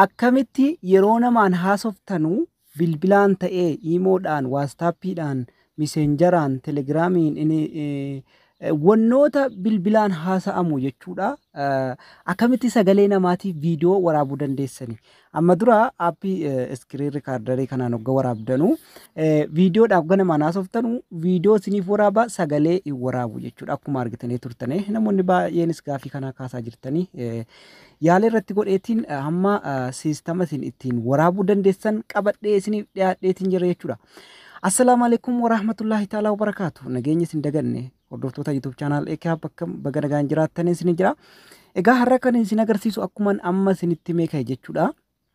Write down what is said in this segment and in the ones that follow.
Akkamitti yeroo namaan haasoftanu bilbilaan ta'ee iimoodhaan, waastaappiidhaan, miseenjaraan, telegiraamiin wannoota bilbilaan haasa'amu jechuudha. Akkamitti sagalee namaatiif viidiyoo waraabuu dandeessani? Amma dura aappii iskiriin rikaardarii kanaan hogga waraabdanu viidiyoodhaaf hogga namaan haasoftanu viidiyoo isiniif waraaba sagalee hin waraabu jechuudha. Akkuma argitanii turtanii namoonni baay'eenis gaaffii kanaa kaasaa jirtanii. Yaala irratti godheetiin hamma siistama isin ittiin waraabuu dandeessan qabadhee isiniif dhiyaadheetiin jira jechuudha. Assalaamu alaikum warahmatullahi ta'ala wabarakaatu. Nageenya isin daganne hordoftoota YouTube channel Ekaa bakka baga nagaan jiraattan isin jira. Egaa har'a kan isin agarsiisu akkuman amma isinitti meeqa jechuudha.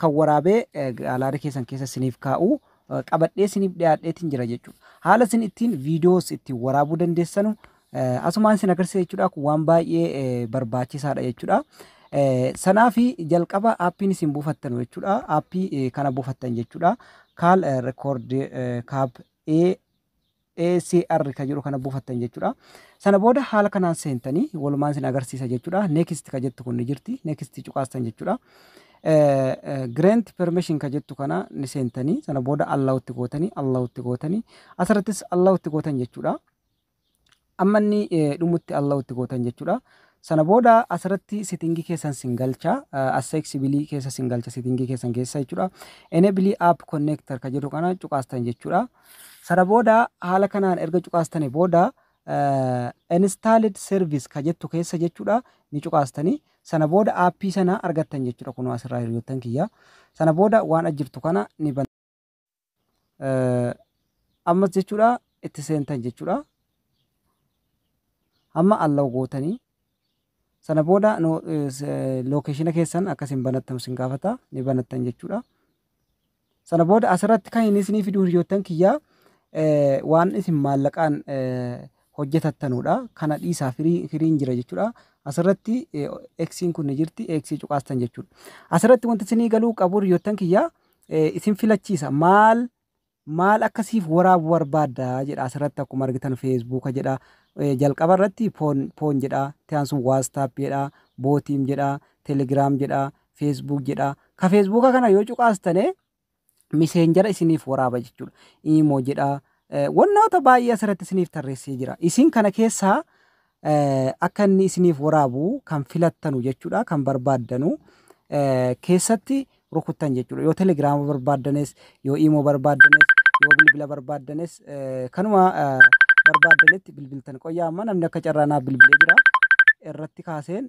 kan waraabee gaalaari keessan keessa siniif kaa'u qabadhee siniif dhiyaadheetiin jira jechuudha. Haala isin ittiin viidiyoos ittiin waraabuu dandeessanu asumaan isin agarsiisa jechuudha. Kun waan baay'ee barbaachisaadha jechuudha. Sanaaf jalqaba aappiin isin buufattanu jechuudha. Aappii kana buufattan jechuudha. Kaal rekoord kaab ee ACR ka jedhu kana buufattan jechuudha. Sana booda haala kanaan seentanii walumaan isin agarsiisa jechuudha. Next ka jettu kun ni jirti. Next cuqaastan jechuudha. Grant permission ka jettu kana ni seentanii sana booda allowutti gootanii allowutti gootanii asirrattis allowutti gootan jechuudha. Amma inni dhumutti allowutti gootan jechuudha. Sana booda asirratti sitingii keessan sin galcha. Accessibility keessa sin galcha sitingii keessan keessa jechuudha. Enable app connector ka jedhu kana cuqaastan jechuudha. Sana booda haala kanaan erga cuqaastanii booda installed service ka jettu keessa jechuudha ni cuqaastanii sana booda aappii sana argattan jechuudha kunoo asirraa hiriyoottan kiyya sana booda waan ajjirtu kana ni ban ammas jechuudha itti seentan jechuudha amma allaw gootanii sana booda lookeeshina keessan akkasiin banattan sin gaafata ni banattan jechuudha. Sana booda asirratti kan inni isinii fidu hiriyoottan kiyyaa eh, waan isin maallaqaan eh, hojjetattanuudha. Kana dhiisaa firii- firiin jira jechuudha. Asirratti eh, eksiin kun ni jirti eksii cuqaastan jechuudha. Asirratti wanti isinii galuu qabu hiriyoottan kiyyaa eh, isin filachiisa maal maal akka siif waraabu barbaadda jedha asirratti akkuma argitan feesbuuka jedha eh, jalqaba irratti poon poon jedha tiyaan sun waastaap jedha bootiim jedha telegiraam jedha Facebook jedha. Ka Facebook kana yoo cuqaastane miseenjara isiniif waraaba jechuudha. Imo jedha. Eh, Wannoota baay'ee asirratti isiniif tarreessee jira. Isin kana keessaa eh, akka inni isiniif waraabu kan filattanu jechuudha. Kan barbaaddanu eh, keessatti rukuttan jechuudha. Yoo telegiraama barbaaddanes, yoo imo barbaaddanes, yoo bilbila barbaaddanes eh, kanuma eh, barbaaddanitti bilbiltan. Qoyyaa amma namni akka carraanaa bilbilee jira. Irratti kaaseen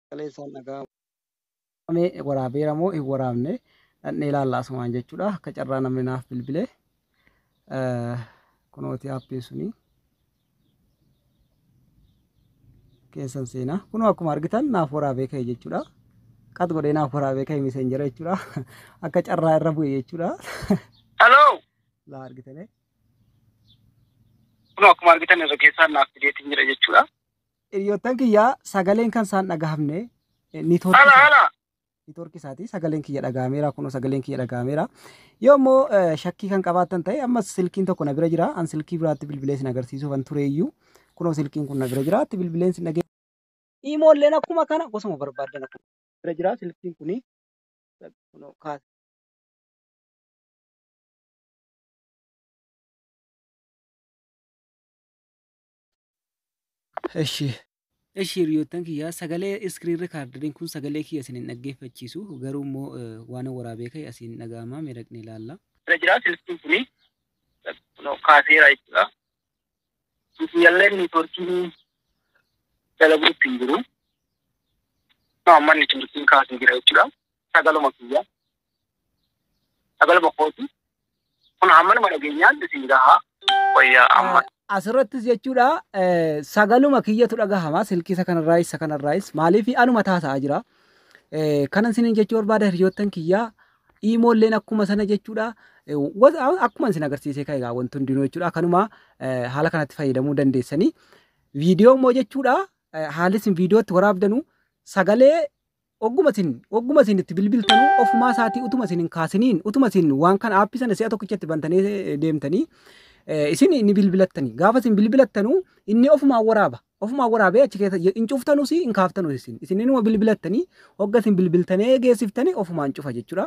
sagalee isaan dhaga'amu. Waraabamee waraabeera moo hin waraabne dhaqnee ilaalla asumaan jechuudha. Akka carraa namni naaf bilbile. Kunooti aappiin suni. Keessan seenaa. Kunoo akkuma argitan naaf waraabee ka'e jechuudha. Qat godhee naaf waraabee ka'e miseenjera jechuudha. Akka carraa irra bu'e jechuudha. Hello! Laa argitanii. Kunoo akkuma argitan irra keessaan naaf fideetiin jira jechuudha. Hiriyoottan kiyya sagaleen kan isaan dhagahamne niitoorkii Hala isaa hala. niitoorkii isaati sagaleen kiyya dhagahameera kunoo sagaleen kiyya dhagahameera yoo immoo eh, shakkii kan qabaattan ta'e ammas silkiin tokko na bira jira an silkii biraatti bilbilee sin agarsiisuuf an tureeyyuu kunoo silkiin kun na bira jira itti bilbileen sin dhagee iimoolleen akkuma kana gosuma barbaaddan akkuma bira jira silkiin kuni kunoo kaasa Eshi. Eshi hiriyoottan kiyyaa sagalee iskiriin rikaardariin kun sagalee kiyya isin hin dhaggeeffachiisu garuu immoo waan waraabee ka'e asiin dhaga'ama mee dhaqnee ilaalla. Irra jira silkiin kuni kaaseera jechuudha. Kiyyalleen neetworkiin dalaguutti hin jiru. Amma neetworkiin kaasee jira jechuudha. Sagaluma kiyya. Sagal bokkooti. Kun hammanuma dhageenyaatti isin gahaa. Wayyaa amma. Asirrattis jechuudha sagaluma kiyyatu dhagahama silkiisa kanarraayis isa kanarraayis maaliif anuma taasa'aa jira. Kanan isiniin jechuu barbaada hiriyoottan kiyyaa iimoolleen akkuma sana jechuudha. Akkuma isin agarsiisee kan egaa wanti hundinuu jechuudha kanuma haala kanatti fayyadamuu dandeessanii. Viidiyoo immoo jechuudha haalli isin viidiyootti waraabdanu sagalee Ogguma isin ogguma isin itti bilbiltanu ofumaa isaatii utuma isin hin kaasiniin utuma isin waan kana aappii sana si'a tokkicha itti bantanii eh, deemtanii eh, isin ni bilbilattanii gaafa isin bilbilattanu inni ofumaan waraaba ofumaan waraabee achi keessa hin cuftanus hin kaaftanus isin isin inuma bilbilattanii hogga isin bilbiltanee geessiftanii ofumaan cufa jechuudha.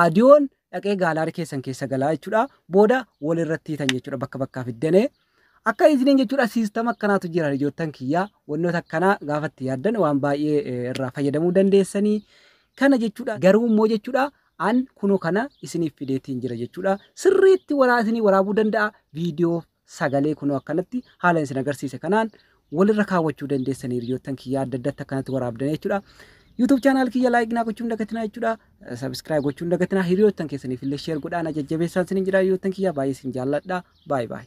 Aadiyoon dhaqee gaalaari keessan keessa galaa jechuudha. Booda wal irratti hiitan jechuudha bakka bakkaa fiddanee. Akka isiniin jechuudha siistama akkanaatu jira ijoottan kiyyaa wantoota akkanaa gaafa itti yaaddan waan baay'ee eh, irraa fayyadamuu dandeessanii. Kana jechuudha garuu immoo jechuudha an kunoo kana isiniif fideetiin jira jechuudha. Sirriitti waraa isinii waraabuu danda'a viidiyoo sagalee kunoo akkanatti haala isin agarsiise kanaan walirra kaawwachuu dandeessan hiriyoottan kiyya adda addatti akkanatti waraabdanii jechuudha. YouTube channel kiyya like naa gochuun dagatinaa jechuudha. Subscribe gochuun dagatinaa hiriyoottan keessaniif illee share godhaa na jajjabeessaan isin jira hiriyoottan kiyya baay'ee isin jaalladha. Baay baay.